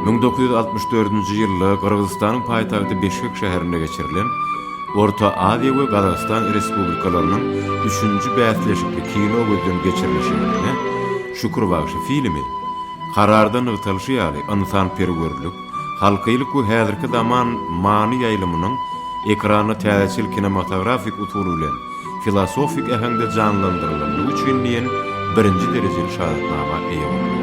Müň dokuz ýüz altmyş dördünji ýylda Gyrgyzystanyň paýtagty Bişkek şäherinde geçirilen Orta Aziýa we Gazagystan Respublikalarynyň üçünji bäsleşikli kino gözden geçirilişinde Şükür bagşy filmi, Kararda nygtalyşy ýaly, ynsanperwerlik, Halkylyk we häzirki zaman many ýaýlymynyň ekrana täzeçil kinematografik usul bilen filosofik äheňde janlandyrylandygy üçin diýen birinji derejeli şahadatnama eýe boldy.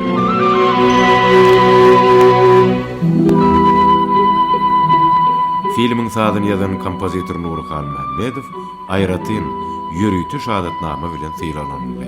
Filmiň sazyny ýazan kompozitor Nury Halmämmedow, Aýratyn ýörite şahadatnama bilen sylaglanyldy.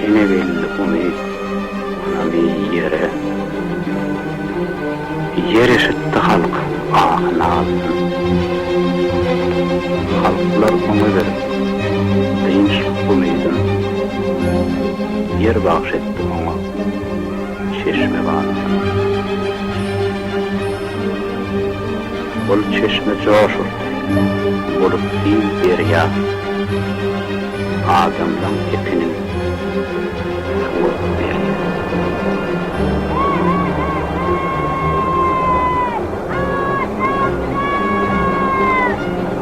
Ýene geldi umyt ony bir ýere, Ýer eşitdi halk ahy-nazyn. Halklar oňa berip, dynç umydyn, Ýer bagş etdi oňa. çeşme barmyka? Ol çeşme joş urdy. Bolup giň derýa adamlaň epiniň suwy berýär.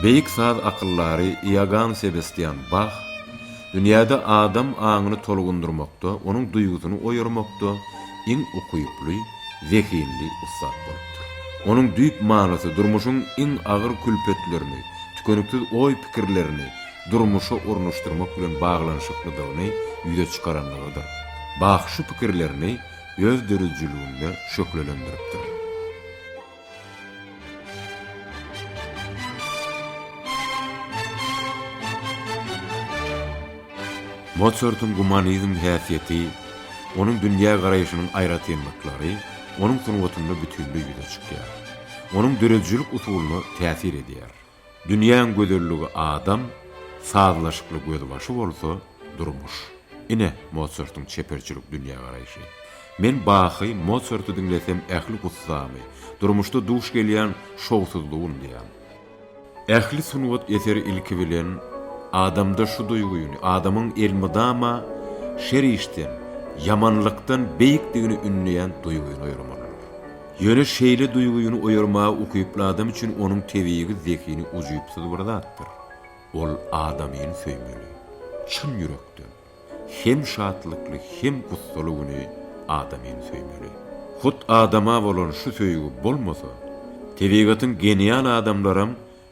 Beýik saz akyldary Iogann Sebestian Bah dünýäde adam aňyny tolgundyrmakda, onuň duýgusyny oýarmakda iň ukyply, zehinli ussat bolupdyr. Onuň düýp manysy durmuşyň iň agyr külpetlerini, tükeniksiz oý-pikirlerini durmuşa ornaşdyrmak bilen baglanyşyklydygyny ýüze çykaranlygydyr. Bah şu pikirlerini öz döredijiliginde şöhlelendiripdir. Motsartyň gumanizm häsiýeti, onuň dünýä garaýşynyň aýratynlyklary onuň sungatynda bütinleý ýüze çykýar. Onuň döredijilik usulyna täsir edýär. Dünýäň gözelligi adam, sazlaşykly gözbaşy bolsa, durmuş. Ine, Motsartyň çeperçilik dünýägaraýşy. Men Bahy, Motsarty diňlesem ähli gussamy, durmuşda duş gelýän şowsuzlygy unudýan. Ähli sungat eseri ilki bilen adamda şu duýgyny, adamyň elmydama şer işden, ýamanlykdan beýikdigini ündeýän duýgyny oýramalydyr. Ýöne şeýle duýgyny oýarmaga ukyply adam üçin onuň tebigy zehini ujypsyz bir zatdyr. Ol adamyny söýmeli. Çyn ýürekden, hem şatlykly, hem gussaly güni adamyny söýmeli. Hut adama bolan şu söýgi bolmasa, tebigatyň genial adamlaram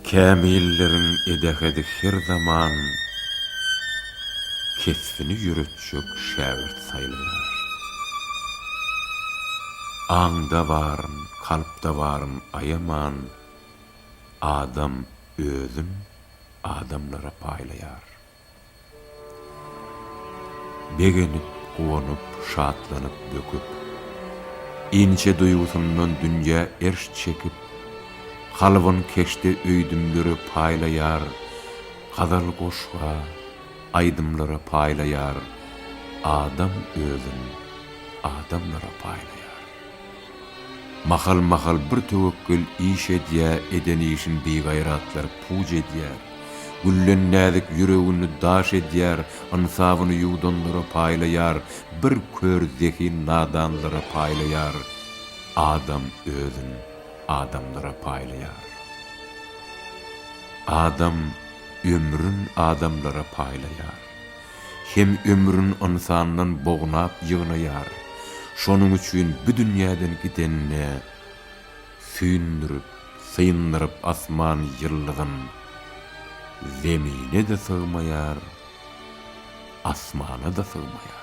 Kämilleriň edehedi her zaman kesbini ýöretjek şägirt saýlaýar. Aňda baryn, kalpda baryn aýaman adam özün adamlara paýlaýar. Begenip, guwanyp, şatlanyp, böküp. Inçe duýgusyndan dünýä erş çekip, Kalbyn keşde öýdümlere paýlaýar, Gazal goşga, aýdymlara paýlaýar, Adam özün adamlara paýlaýar. Mahal-mahal bir töwekgel iş edýä eden işin bigaýratlar puj edýär. Güllen näzik ýüregini daş edýär ynsabyny ýuwdanlara paýlaýar bir kör zehin nadanlara paýlaýar adam özün adamlara paýlaýar adam ömrün adamlara paýlaýar hem ömrün ynsandan bognap ýygnaýar, şonuň üçin bu dünýäden gidenine süýndürip, syndyryp asman ýyldyzyn, zemine-de sygmaýar, asmana-da sygmaýar.